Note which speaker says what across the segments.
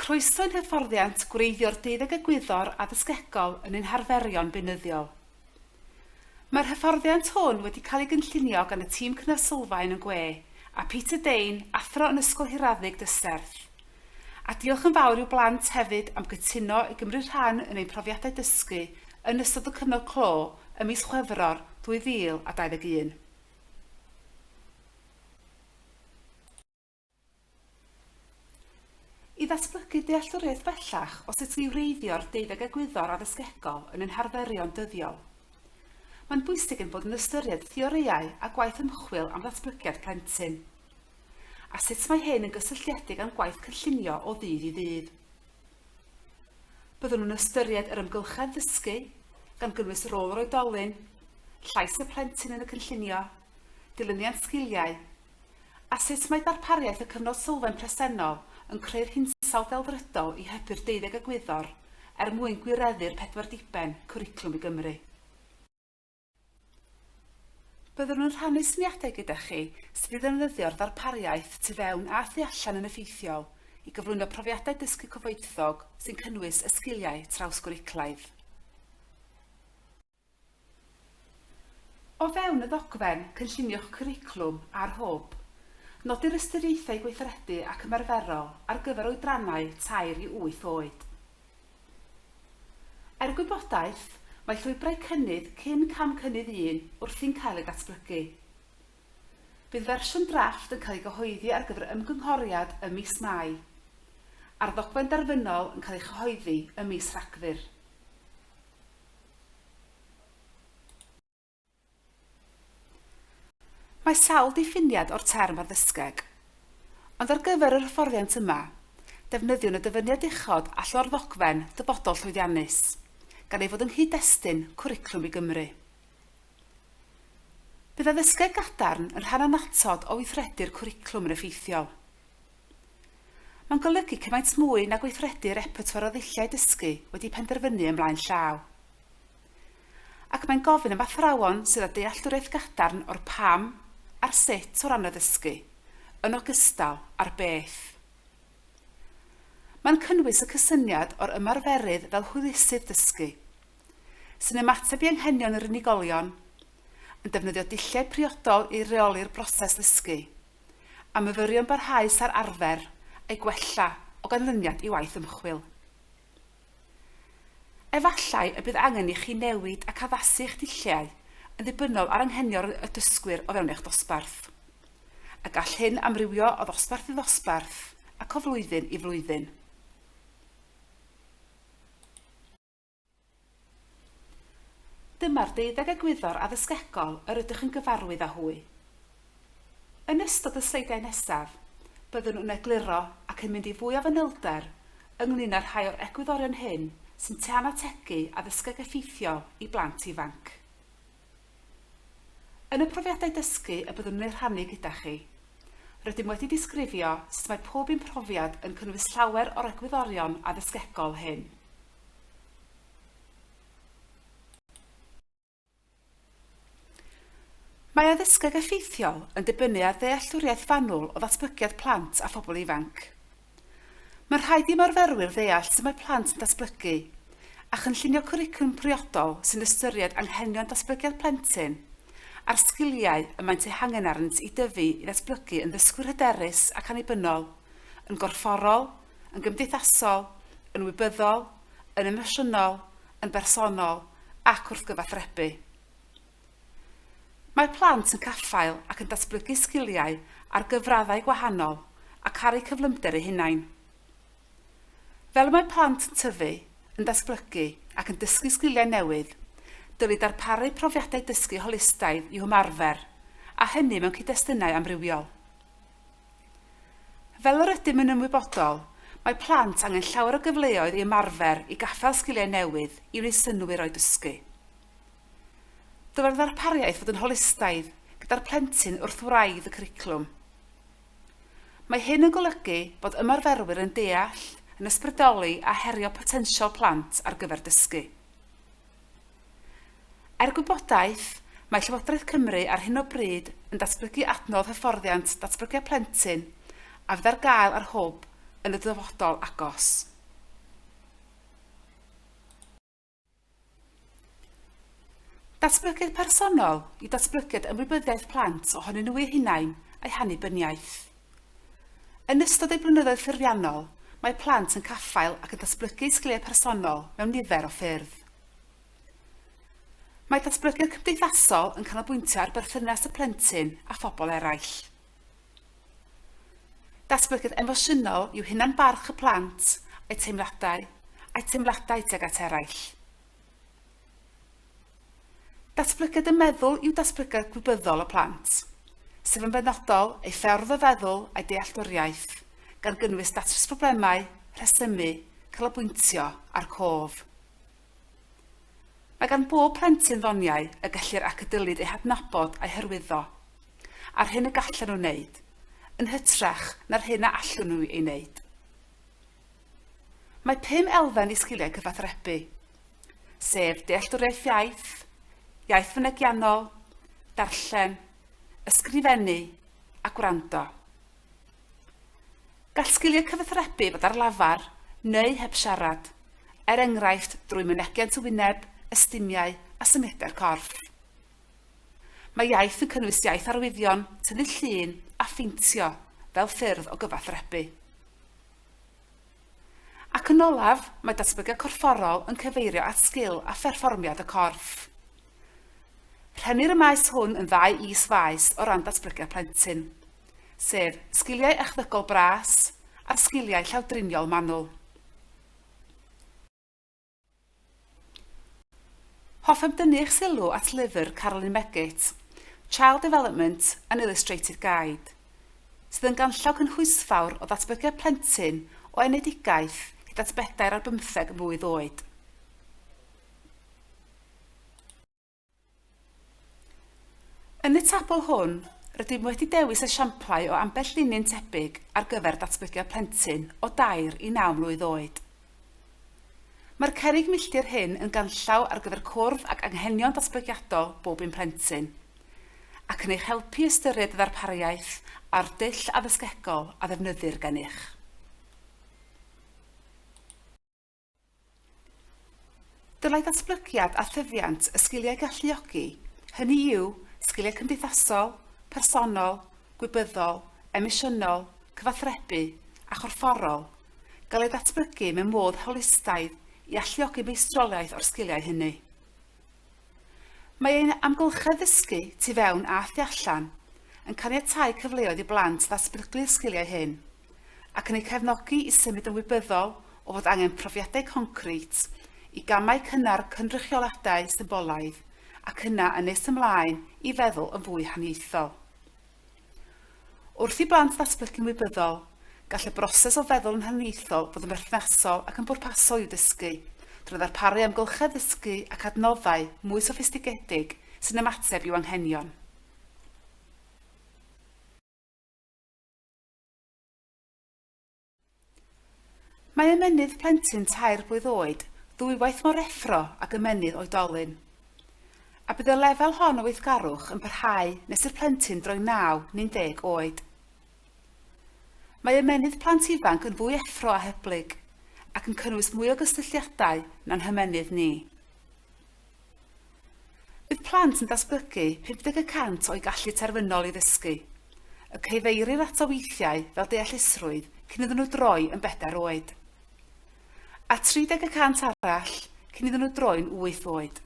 Speaker 1: Croeso i'n hyfforddiant gwreiddio'r deuddeg egwyddor addysgegol yn ein harferion beunyddiol. Mae'r hyfforddiant hwn wedi cael ei gynllunio gan y tîm Cnys Sylfaen yn gwe, a Peter Dane, Athro yn Ysgol Hiraddug Dyserth. A diolch yn fawr i'w blant hefyd am gytuno i gymryd rhan yn ein profiadau dysgu yn ystod y cyfnod clo ym mis Chwefror 2021. I ddatblygu dealltwriaeth bellach o sut i wreiddio'r deuddeg egwyddor addysgegol yn ein harferion dyddiol, mae'n bwysig ein bod yn ystyried theorïau a gwaith ymchwil am ddatblygiad plentyn, a sut mae hyn yn gysylltiedig â'n gwaith cynllunio o ddydd i ddydd. Byddwn yn ystyried yr ymgylchedd ddysgu, gan gynnwys rôl yr oedolyn, llais y plentyn yn y cynllunio, dilyniant sgiliau, A sut mae darpariaeth y cyfnod sylfaen presennol yn creu'r hinsawdd delfrydol i hybu'r deuddeg egwyddor er mwyn gwireddu'r pedwar diben Cwricwlwm i Gymru? Byddwn yn rhannu syniadau gyda chi sut i ddefnyddio'r ddarpariaeth tu fewn a thu allan yn effeithiol i gyflwyno profiadau dysgu cyfoethog sy'n cynnwys y sgiliau trawsgwricwlaidd. O fewn y ddogfen, cynllunio'ch cwricwlwm a'r Hwb. Nodi'r ystyriaethau gweithredu ac ymarferol ar gyfer oedrannau tair i wyth oed. Er gwybodaeth, mae llwybrau cynnydd cyn cam cynnydd un wrthi'n cael eu datblygu. Bydd fersiwn drafft yn cael ei gyhoeddi ar gyfer ymgynghoriad ym mis Mai, a'r ddogfen derfynol yn cael ei chyhoeddi ym mis Rhagfyr. Mae sawl diffiniad o'r term ar ddysgeg, ond ar gyfer yr hyfforddiant yma, defnyddiwn y dyfyniad uchod a llo'r ddogfen Dyfodol Llwyddiannus, gan ei fod yng nghyd-destun Cwricwlwm i Gymru. Bydd addysgeg gadarn yn rhan annatod o weithredu'r cwricwlwm yn effeithiol. Mae'n golygu cymaint mwy na gweithredu repertoire o ddulliau dysgu wedi penderfynu yn mlaen llaw. Ac mae'n gofyn am athrawon sydd â dealltwriaeth gadarn o'r pam a'r sut o ran addysgu, yn ogystal â'r beth. Mae'n cynnwys y cysyniad o'r ymarferydd fel hwylusydd dysgu, sy'n ymateb i anghenion yr unigolion, yn defnyddio dulliau priodol i reoli'r broses ddysgu, a myfyrion barhaus ar arfer a'i gwella o ganlyniad i waith ymchwil. Efallai y bydd angen i chi newid ac addasu eich dulliau yn ddibynnol ar anghenion y dysgwyr o fewn eich dosbarth, a gall hyn amrywio o ddosbarth i ddosbarth ac o flwyddyn i flwyddyn. Dyma'r deuddeg egwyddor addysgegol yr ydych yn gyfarwydd â hwy. Yn ystod y sleidiau nesaf, byddwn yn egluro ac yn mynd i fwy o fanylder ynglŷn â rhai o'r egwyddorion hyn sy'n tân ategu addysgeg effeithiol i blant ifanc. Yn y profiadau dysgu y byddwn yn eu rhannu gyda chi, rydym wedi disgrifio sut mae pob un profiad yn cynnwys llawer o'r egwyddorion addysgegol hyn. Mae addysgeg effeithiol yn dibynnu ar ddealltwriaeth fanwl o ddatblygiad plant a phobl ifanc. Mae'n rhaid i ymarferwyr ddeall sut mae plant yn datblygu, a chynllunio cwricwlwm priodol sy'n ystyried anghenion datblygiad plentyn a'r sgiliau y maent eu hangen arnynt i dyfu i ddatblygu yn ddysgwyr hyderus ac annibynnol, yn gorfforol, yn gymdeithasol, yn wybyddol, yn emosiynol, yn bersonol ac wrth gyfathrebu. Mae plant yn caffael ac yn datblygu sgiliau ar gyfraddau gwahanol a caru cyflymder eu hunain. Fel y mae plant yn tyfu, yn datblygu ac yn dysgu sgiliau newydd, dylid darparu profiadau dysgu holistaidd i'w hymarfer, a hynny mewn cyd-destunau amrywiol. Fel yr ydym yn ymwybodol, mae plant angen llawer o gyfleoedd i ymarfer, i gaffael sgiliau newydd, i wneud synnwyr o'u dysgu. Dylai'r ddarpariaeth fod yn holistaidd, gyda'r plentyn wrth wraidd y cwricwlwm. Mae hyn yn golygu bod ymarferwyr yn deall, yn ysbrydoli a herio potensial plant ar gyfer dysgu. Er gwybodaeth, mae Llywodraeth Cymru ar hyn o bryd yn datblygu adnodd hyfforddiant datblygiad plentyn a fydd ar gael ar Hwb yn y dyfodol agos. Datblygiad personol yw datblygiad ymwybyddiaeth plant ohonyn nhw eu hunain a'u hannibyniaeth. Yn ystod eu blynyddoedd ffurfiannol, mae plant yn caffael ac yn datblygu eu sgiliau personol mewn nifer o ffyrdd. Mae datblygiad cymdeithasol yn canolbwyntio ar berthynas y plentyn â phobl eraill. Datblygiad emosiynol yw hunan-barch y plant, a'u teimladau, a'u teimladau tuag at eraill. Datblygiad y meddwl yw datblygiad gwybyddol y plant, sef yn benodol ei ffordd o feddwl a'i dealltwriaeth, gan gynnwys datrys problemau, rhesymu, canolbwyntio a'r cof. Mae gan bob plentyn ddoniau y gellir ac y dylid eu hadnabod a'u hyrwyddo, a'r hyn y gallan nhw wneud, yn hytrach na'r hyn a allwn nhw ei wneud. Mae pum elfen i sgiliau cyfathrebu, sef dealltwriaeth iaith, iaith fynegiannol, darllen, ysgrifennu a gwrando. Gall sgiliau cyfathrebu fod ar lafar neu heb siarad, er enghraifft drwy mynegiant y wyneb, ystumiau a symudiau'r corff. Mae iaith yn cynnwys iaith arwyddion, tynnu llun a pheintio fel ffyrdd o gyfathrebu. Ac yn olaf, mae datblygiad corfforol yn cyfeirio at sgil a pherfformiad y corff. Rhennir y maes hwn yn ddau is-faes o ran datblygiad plentyn, sef sgiliau echddygol bras a'r sgiliau llawdriniol manwl. Hoffem dynnu eich sylw at lyfr Carolyn Meggitt, Child Development, An Illustrated Guide, sydd yn ganllaw cynhwysfawr o ddatblygiad plentyn o enedigaeth hyd at bedair ar bymtheg mlwydd oed. Yn y tabl hwn, rydym wedi dewis esiamplau o ambell linyn tebyg ar gyfer datblygiad plentyn o dair i naw mlwydd oed. Mae'r cerrig milltir hyn yn ganllaw ar gyfer cwrdd ag anghenion datblygiadol bob un plentyn, ac yn eich helpu i ystyried y ddarpariaeth a'r dull addysgegol a ddefnyddir gennych. Dylai ddatblygiad a thyfiant y sgiliau galluogi, hynny yw, sgiliau cymdeithasol, personol, gwybyddol, emosiynol, cyfathrebu a chorfforol, gael eu datblygu mewn modd holistaidd i alluogi meistroliaeth o'r sgiliau hynny. Mae ein amgylchedd ddysgu, tu fewn a thu allan, yn caniatáu cyfleoedd i blant ddatblygu'r sgiliau hyn. ac yn eu cefnogi i symud yn wybyddol o fod angen profiadau concrit i gamau cynnar cynrychioladau symbolaidd ac yna yn nes ymlaen i feddwl yn fwy haniaethol. Wrth i blant ddatblygu'n wybyddol, gall y broses o feddwl yn haniaethol fod yn berthnasol ac yn bwrpasol i'w dysgu, drwy ddarparu amgylchedd ddysgu ac adnoddau mwy soffistigedig sy'n ymateb i'w anghenion. Mae ymennydd plentyn tair blwydd oed ddwywaith mor effro ag ymennydd oedolyn. A bydd y lefel hon o weithgarwch yn parhau nes i'r plentyn droi naw neu'n deg oed. Mae ymennydd plant ifanc yn fwy effro a hyblyg, ac yn cynnwys mwy o gysylltiadau na'n hymennydd ni. Bydd plant yn datblygu 50 y cant o'u gallu terfynol i ddysgu. Y cyfeirir ato weithiau fel deallusrwydd cyn iddyn nhw droi yn bedair oed. A 30 y cant arall cyn iddyn nhw droi'n wyth oed.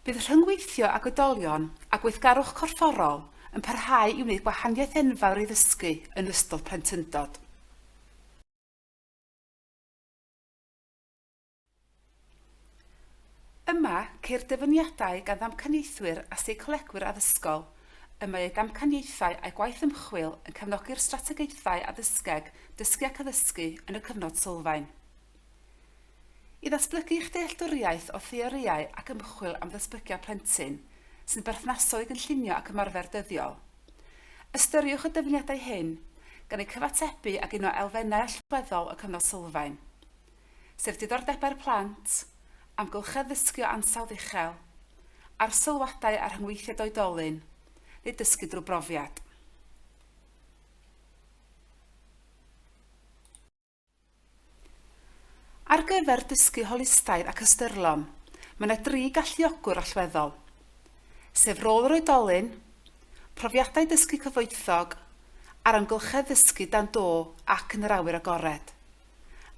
Speaker 1: Bydd rhyngweithio ag oedolion a gweithgarwch corfforol yn parhau i wneud gwahaniaeth enfawr i ddysgu yn ystod plentyndod. Yma, ceir dyfyniadau gan ddamcaniaethwyr a seicolegwyr addysgol. Y mae eu damcaniaethau a'u gwaith ymchwil yn cefnogi'r strategaethau addysgeg dysgu ac addysgu yn y cyfnod sylfaen. I ddatblygu eich dealltwriaeth o theorïau ac ymchwil am ddatblygiad plentyn, sy'n berthnasol i gynllunio ac ymarfer dyddiol, Ystyriwch y dyfyniadau hyn, gan eu cyfatebu ag un o elfennau allweddol y Cyfnod Sylfaen, sef diddordebau'r plant, amgylchedd ddysgio ansawdd uchel, arsylwadau a rhyngweithiad oedolyn, neu dysgu drwy brofiad. Ar gyfer dysgu holistaidd ac ystyrlon, mae yna dri galluogwr allweddol, sef rôl yr oedolyn, profiadau dysgu cyfoethog, a'r amgylchedd ddysgu dan do ac yn yr awyr agored,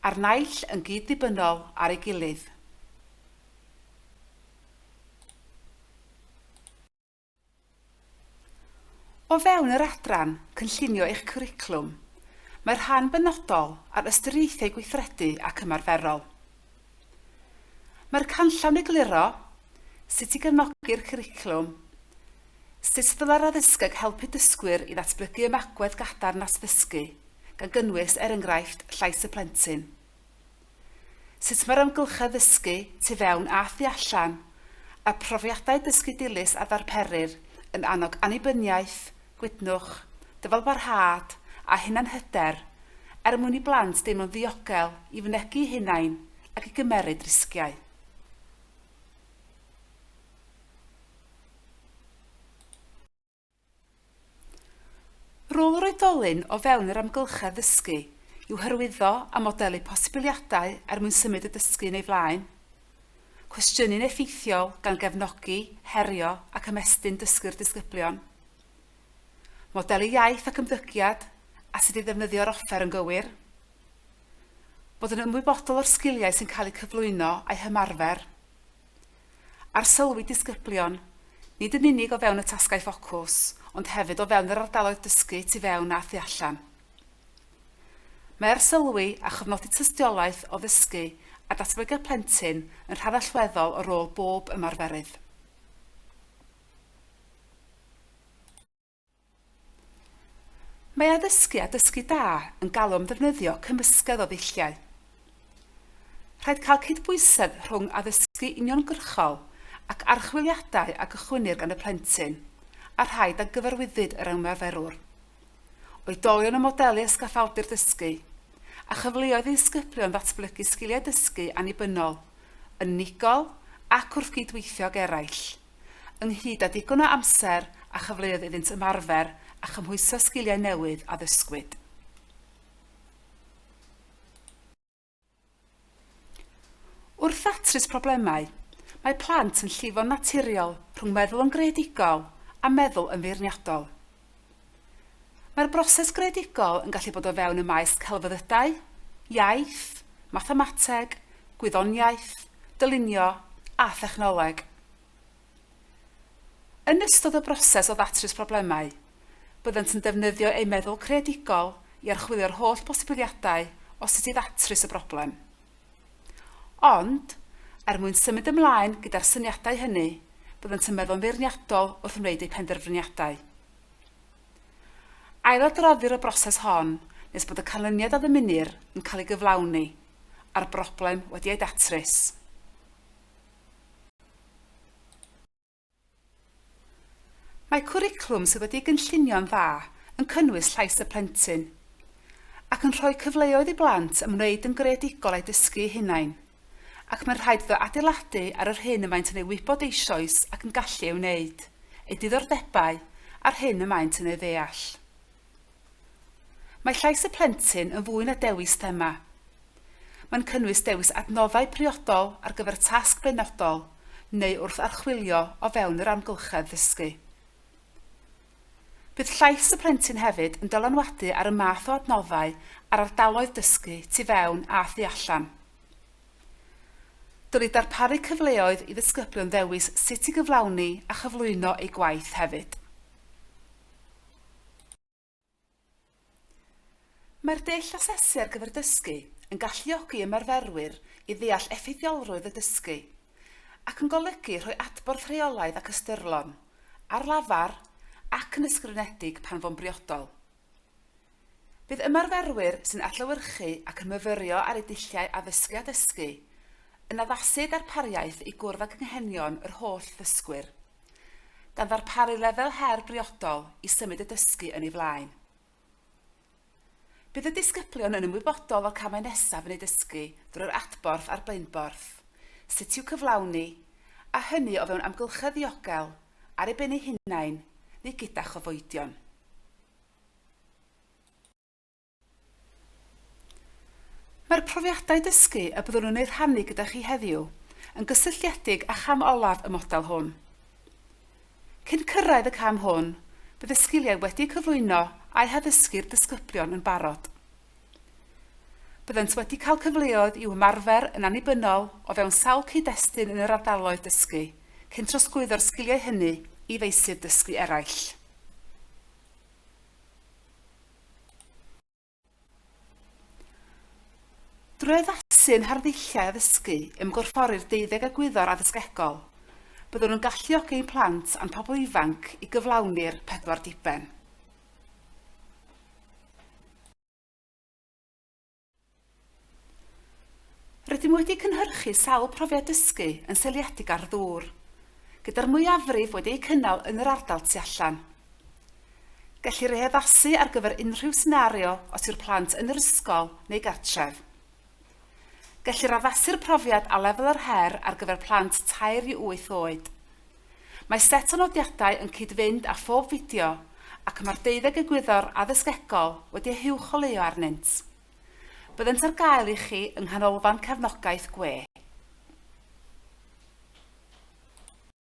Speaker 1: a'r naill yn gyd-ddibynnol ar ei gilydd. O fewn yr adran cynllunio eich cwricwlwm, mae'r rhan benodol ar ystyriaethau gweithredu ac ymarferol. Mae'r canllawn egluro sut i gefnogi'r cwricwlwm, sut ddylai'r addysgeg helpu dysgwyr i ddatblygu ymagwedd gadarn at ddysgu, gan gynnwys, er enghraifft, llais y plentyn. Sut mae'r amgylchedd ddysgu, tu fewn a thu allan, a'r profiadau dysgu dilys a ddarperir yn annog annibyniaeth, gwydnwch, dyfalbarhad a hunanhyder er mwyn i blant deimlo'n ddiogel i fynegi'u hunain ac i gymeryd risgiau. Rôl yr oedolyn o fewn yr amgylchedd ddysgu yw hyrwyddo a modelu posibiliadau er mwyn symud y dysgu yn ei flaen, cwestiynu'n effeithiol gan gefnogi, herio ac ymestyn dysgu'r disgyblion, modelu iaith ac ymddygiad a sut i ddefnyddio'r offer yn gywir, bod yn ymwybodol o'r sgiliau sy'n cael eu cyflwyno a'u hymarfer, Arsylwi disgyblion, nid yn unig o fewn y tasgau ffocws, ond hefyd o fewn yr ardaloedd dysgu tu fewn a thu allan. Mae arsylwi a chofnodi tystiolaeth o ddysgu a datblygiad plentyn yn rhan allweddol o rôl bob ymarferydd. Mae addysgu a dysgu da yn galw am ddefnyddio cymysgedd o ddulliau. Rhaid cael cydbwysedd rhwng addysgu uniongyrchol ac archwiliadau a gychwynnir gan y plentyn, a rhaid a gyfarwyddyd yr ymarferwr. Oedolion y modelu ysgaffaldir dysgu, a chyfleoedd i ddisgyblion ddatblygu sgiliau dysgu annibynnol, unigol ac wrth gyd-weithio ag eraill. ynghyd â digon o amser a chyfleoedd iddynt ymarfer a chymhwyso sgiliau newydd a ddysgwyd. Wrth ddatrys problemau, mae plant yn llifo'n naturiol rhwng meddwl yn greadigol a meddwl yn feirniadol. Mae'r broses greadigol yn gallu bod o fewn y maes celfyddydau, iaith, mathemateg, gwyddoniaeth, dylunio a thechnoleg. Yn ystod y broses o ddatrys problemau, byddant yn defnyddio eu meddwl creadigol i archwilio'r holl bosibiliadau o sut i ddatrys y broblem. Ond, er mwyn symud ymlaen gyda'r syniadau hynny, byddant yn meddwl yn feirniadol wrth wneud eu penderfyniadau. Ailadroddir y broses hon nes bod y canlyniad a ddymunir yn cael ei gyflawni, a'r broblem wedi ei datrys. Mae cwricwlwm sydd wedi'i gynllunio'n dda yn cynnwys llais y plentyn, ac yn rhoi cyfleoedd i blant ymwneud yn greadigol a'u dysgu eu hunain, ac mae'n rhaid iddo adeiladu ar yr hyn y maent yn ei wybod eisoes ac yn gallu ei wneud, eu diddordebau, a'r hyn y maent yn ei ddeall. Mae llais y plentyn yn fwy na dewis thema. Mae'n cynnwys dewis adnoddau priodol ar gyfer tasg benodol neu wrth archwilio o fewn yr amgylchedd ddysgu. Bydd llais y plentyn hefyd yn dylanwadu ar y math o adnoddau a'r ardaloedd dysgu tu fewn a thu allan. Dylid darparu cyfleoedd i ddisgyblion ddewis sut i gyflawni a chyflwyno eu gwaith hefyd. Mae'r dull asesu ar gyfer dysgu yn galluogi ymarferwyr i ddeall effeithiolrwydd y dysgu, ac yn golygu rhoi adborth rheolaidd ac ystyrlon, ar lafar ac yn ysgrifenedig pan fo'n briodol. Bydd ymarferwyr sy'n adlewyrchu ac yn myfyrio ar eu dulliau addysgu a dysgu yn addasu darpariaeth i gwrdd ag anghenion yr holl ddysgwyr, gan ddarparu lefel her briodol i symud y dysgu yn ei flaen. Bydd y disgyblion yn ymwybodol o'r camau nesaf yn eu dysgu drwy yr adborth a'r blaenborth, sut i'w cyflawni, a hynny o fewn amgylchedd ddiogel, ar eu ben eu hunain neu gyda chofoedion. Mae'r profiadau dysgu y byddwn yn eu rhannu gyda chi heddiw yn gysylltiedig â cham olaf y model hwn. Cyn cyrraedd y cam hwn, bydd y sgiliau wedi'u cyflwyno a'u haddysgu i'r disgyblion yn barod. Byddant wedi cael cyfleoedd i'w hymarfer yn annibynnol o fewn sawl cyd-destun yn yr ardaloedd dysgu, cyn trosglwyddo'r sgiliau hynny i feysydd dysgu eraill. Drwy addasu'n harddulliau addysgu, ymgorffori'r deuddeg egwyddor addysgegol, byddwn yn galluogi ein plant a'n pobl ifanc i gyflawni'r pedwar diben. Rydym wedi cynhyrchu sawl profiad dysgu yn seiliedig ar ddŵr, gyda'r mwyafrif wedi eu cynnal yn yr ardal tu allan. Gellir ei addasu ar gyfer unrhyw senario os yw'r plant yn yr ysgol neu gartref. Gellir addasu'r profiad a lefel yr her ar gyfer plant tair i wyth oed. Mae set o nodiadau yn cyd-fynd â phob fideo ac mae'r deuddeg egwyddor addysgegol wedi eu huwcholeuo arnynt. Byddent ar gael i chi yng Nghanolfan Cefnogaeth Gwe.